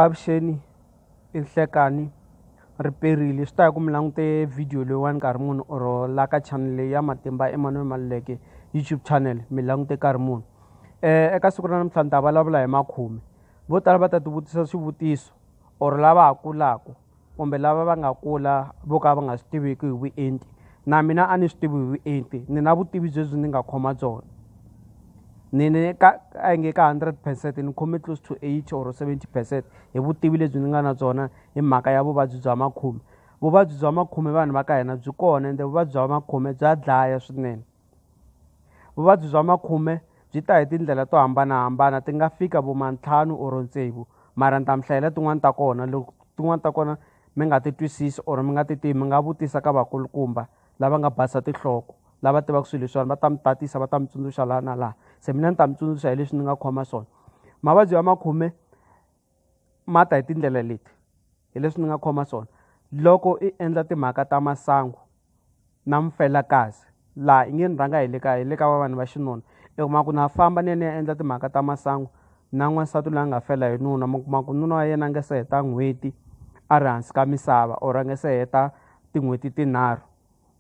Avuxeni i Nhlekani riperile swi ta ya ku mi langute video leyiwani nkarhi munhu or la ka channel ya matimba Emmanuel Maluleke YouTube channel mi langute nkarhi munhu um eka siku ra namuntlha ni ta vulavula hi makhume vo tala va ta ti vutisa swivutiso or lava ha kulaka. kumbe lava va nga kula vo ka va nga swi tiviki hi vuenti na mina a ni swi tivi hi vuenti ni na vutivi byebyi ni nga khoma byona ni ni ka a nge ka hundred percent ni khome close to eighty or seventy percent hi vutivi lebyi ni nga na byona hi mhaka ya vuvabyi bya makhume vuvabyi bya makhume vanhu va ka hina byi kona ende vuvabyi bya makhume bya dlaya swinene Vuvabyi bya makhume byi ta hi tindlela to hambanahambana ti nga fika vo ma ntlhanu or tsevu mara ni ta mi hlayela tin'wani ta kona loko tin'wani ta kona mi nga ti twisisi or mi nga ti tivi mi nga vutisa ka vakulukumba lava nga basa tinhloko lava tivaka swilo leswiwani va ta mi tatisa va ta mi tsundzuxa laha na laha se mina ni ta mi tsundzuxa hi leswi ni nga khoma swona mavabyi ya makhume. ma ta hi tindlela leti hi leswi ni nga khoma swona loko i endla timhaka ta masangu na mfelakazi laha i nge ni rhanga hi le ka hi le ka vavanhu va xinuna i kuma ku na famba ni ya ni ya endla timhaka ta masangu na n'wansati loyi a nga fela hi nuna mi kuma ku nuna wa yena a nge se heta n'hweti a ri hansi ka misava or a nge se heta tin'hweti tinharhu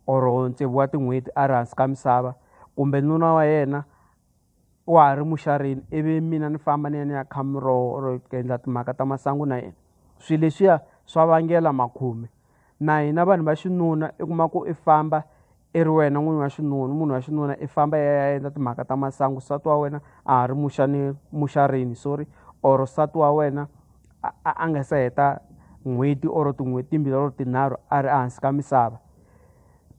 or tsevu wa tin'hweti a ri hansi ka misava kumbe nuna wa yena wa ha ri muxarini ivi mina ni famba ni ya ni ya kha miroho or ku endla timhaka ta masangu na yena swilo leswiya swa vangela makhume na hina vanhu va xinuna i kuma ku i famba i ri wena n'wini wa xinuna munhu wa xinuna i famba ya ya endla timhaka ta masangu nsati wa wena a ha ri muxa ni muxarini sorry or nsati wa wena a a nga se heta n'hweti or tin'hweti timbirhi or tinharhu a ri ehansi ka misava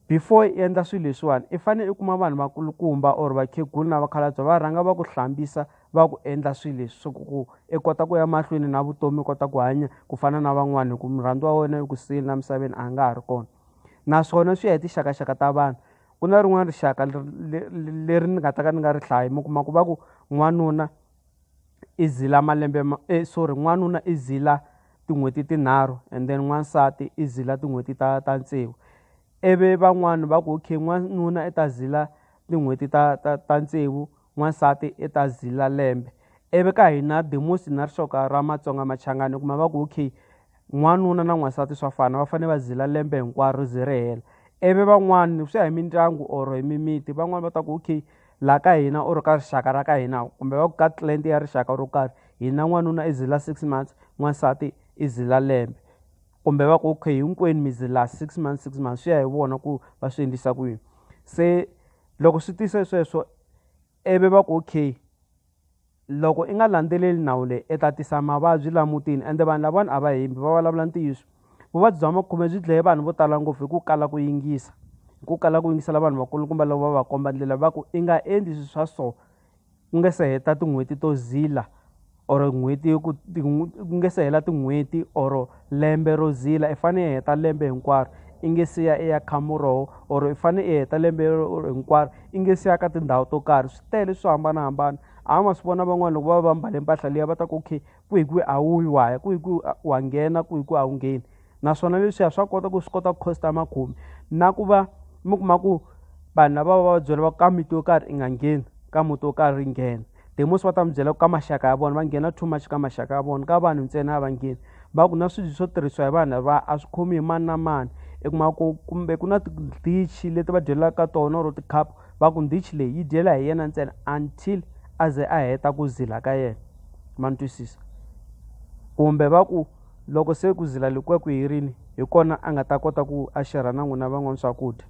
before i endla swilo leswiwani i fanele i kuma vanhu vakulukumba or vakhegula na vakhalabya va rhanga va ku hlambisa va ku endla swilo leswi swa ku ku i kota ku ya mahlweni na vutomi u kota ku hanya ku fana na van'wani hi ku murhandziwa wa wena u ku siyile na misaveni a nga ha ri kona naswona swi ya hi tinxakaxaka ta vanhu ku na rin'wana rixaka leri ni nga ta ka ni nga ri hlayi mi kuma ku va ku n'wanuna i zila malembe ma eh, sorry n'wanuna i zila tin'hweti tinharhu and then n'wansati i zila tin'hweti ta ta tsevu ivi van'wani va ku okay n'wanuna i ta zila tin'hweti ta ta ta tsevu n'wansati i ta zila lembe ivi ka hina the most na rixaka ra matsonga machangani u kuma va ku okay n'wanuna na n'wansati swa fana va fanele va zila lembe hinkwaro ri ze ri hela ivi van'wani swi ya hi mindyangu or hi mimiti van'wani va ta ku okay. laha ka hina or ka rixaka ra ka hina kumbe va ku ka client ya rixaka ro karhi hina n'wanuna i zila six months n'wansati i zila lembe kumbe va ku okay hinkwenu mi zila six months six months swi ya hi vona ku va swi endlisa ku yini se loko swi tise sweswo ivi va ku okay. loko i nga landzeleli nawu leyi i ta tisa mavabyi la mutini ende vanhu lavawani a va hembi va vulavula ntiyiso vuvabyi bya makhume byi dlaye vanhu vo tala ngopfu hi ku kala ku yingisa hi ku kala ku yingisela vanhu vakulukumba loko va va komba ndlela va ku i nga endli swilo swa so ku nga se heta tin'hweti to zila or n'hweti ku ku nga se hela tin'hweti or Lembe ro zila i fanele i heta lembe hinkwaro i nga se ya i ya kha muroho or i fanele i heta lembe hinkwaro i nga se ya ka tindhawu to karhi swi tele swo hambanahambana a ma swi vona van'wani loko va va va mbale mpahla liya va ta ku okay ku hi kwihi a wu yi wa ya ku hi kwihi wa nghena ku hi kwihi a wu ngheni naswona leswiya swa kota ku swi kota ku cost a makhumi na ku va mi kuma ku vanhu lava va va byela va ka miti yo karhi i nga ngheni ka muti wo karhi ri nghena. demosi va ta mi byela ku ka maxaka ya vona va nghena too much ka maxaka ya vona ka vanhu ntsena a va ngheni va ku na swilo swo tirhisiwa hi vanhu lava a swi khomi hi mani na mani i kuma ku kumbe ku na tindichi leti va dyelaka ka tona or tikhapu va ku ndichi leyi yi dyela hi yena ntsena until a ze a heta ku zila ka yena ma ni twisisa kumbe va ku loko se ku zila likuya ku herini hi kona a nga ta kota ku a xerha na n'wina van'wana swakudya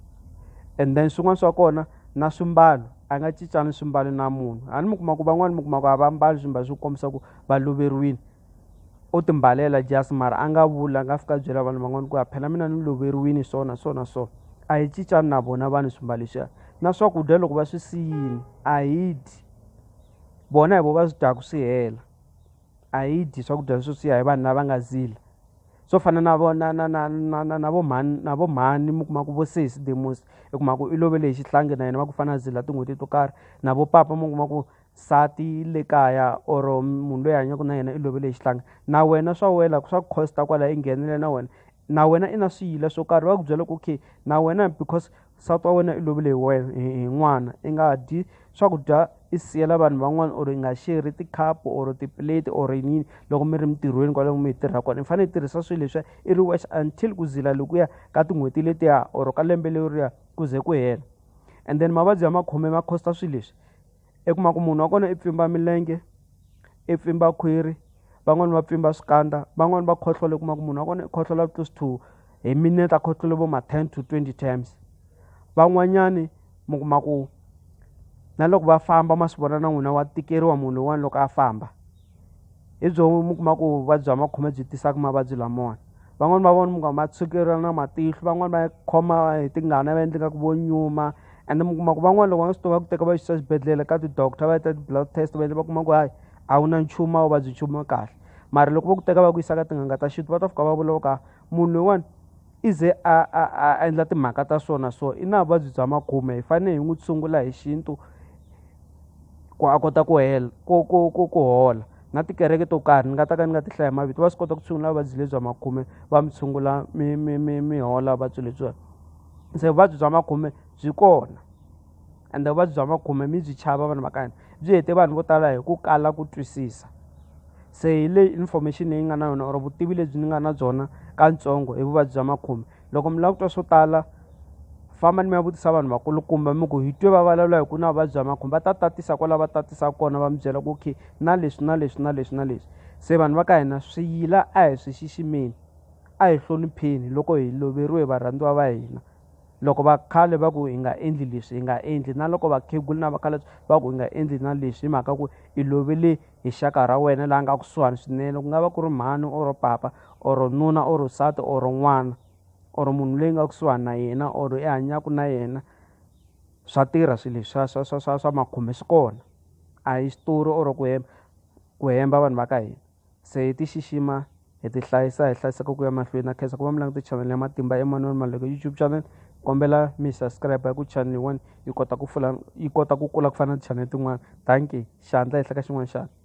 and then swin'wana swa kona na swimbalo a nga cincani swimbalo na munhu a ni mi kuma ku van'wani mi kuma ku a va mbali swimbalo swi kombisa ku va loveriwile u timbalela jasi mara a nga vuli a nga fika byela vanhu van'wani ku ya phela mina ni loveriwini so na so na so a hi cincani na vona vanhu swimbalo leswiya na swakudya loko va swi siyini a hi dyi vona hi vo va swi dyaku swi hela. a hi dyi swakudya leswo siya hi vanhu lava nga zila swo fana na vo na na na na na na vo mhani na vo mhani mi kuma ku vo sesi demosi i kuma ku i lovele hi xihlangi na yena va ku fana zila tin'hweti to karhi na vo papa mi kuma ku nsati le kaya or munhu loyi hanyaka na yena i lovele hi xihlangi na wena swa wela swa ku costa kwala i nghenele na wena na wena i na swiyila swo karhi va ku byela ku okay na wena because nsati wa wena i lovile hi wena hi n'wana i nga dyi swakudya i siyela vanhu van'wana or i nga xerhi tikhapu or tiplate or yini loko mi ri mintirhweni kwaloko mi hi tirha kona i fanele i tirhisa swilo leswiya i ri wexe until ku zila lokuya ka tin'hweti letiya or ka lembe leriya ku ze ku hela and then mavabyi ya makhome ma cost-a swilo leswi. i kuma ku munhu wa kona i pfimba milenge i pfimba khwiri van'wani va pfimba swikandza van'wani va khohlola u kuma ku munhu wa kona i khohlola close to hi minete a khohlola vo ma ten to twenty times van'wanyani mi kuma ku na loko va famba ma swi vona na n'wina wa tikeriwa munhu loyiwani loko a famba. hi byona mi kuma ku vuvabyi bya makhome byi tisaka mavabyi lamawani van'wani va vona mi nga ma tshukeriwa na matihlo van'wani va khoma hi tingana va endleka ku vo nyuma ende mi kuma ku van'wani loko va nga swi tiva ku teka va yisa xibedhlele ka ti-doctor va ya ta ti-blood test va va kuma ku hayi a wu na nchumu a wu vabyi nchumu kahle mara loko vo ku teka va ku yisa ka tin'anga ta xintu va ta fika va vula va ku munhu loyiwani. i ze a a a endla timhaka ta swona so i na vuvabyi bya makhume hi fanele hi n'wi tshungula hi xintu ku a kota ku hela ku ku ku ku hola na tikereke to karhi ni nga ta ka ni nga ti hlaya mavito va swi kota ku tshungula vuvabyi lebyi bya makhume va mi tshungula mi mi mi mi hola vuvabyi lebyiwani se vuvabyi bya makhume byi kona. ende vuvabyi bya makhume mi byi chava vanhu va ka hina byi hete vanhu vo tala hi ku kala ku twisisa se hi leyi information leyi nga na yona or vutivi lebyi ni nga na byona ka ntsongo hi vuvabyi bya makhume loko mi lava ku twa swo tala famba ni mi ya vutisa vanhu vakulukumba mi ku hi twe va vulavula hi ku na vuvabyi bya makhume va ta tatisa kwala va tatisa kona va mi byela ku okay na leswi na leswi na leswi na leswi se vanhu va ka hina swiyila a hi swi xiximeni a hi hlonipheni loko hi loveriwe varhandziwa va hina loko va khale va ku hi nga endli leswi hi nga endli na loko vakhegula na vakhale va ku hi nga endli na leswi hi mhaka ku i lovele hi xaka ra wena laha nga kusuhani swinene ku nga va ku ri mhani or papa or nuna or nsati or n'wana or munhu loyi nga kusuhani na yena or i hanyaka na yena swa tirha swilo leswi swa swa swa swa swa makhume swi kona a hi xitori or ku hemba ku hemba vanhu va ka hina. Se hi ti xixima, hi ti hlayisa, hi hlayiseka ku ya mahlweni. Na khensa ku va mi langute chanele ya Matimba Emmanuel Maluleke YouTube channel. Kombela mi subscribe ku channel yin'wana yi kota ku pfula yi kota ku kula ku fana na ti-channel tin'wana. Dankie. Xandla ehenhla ka xin'wana xandla.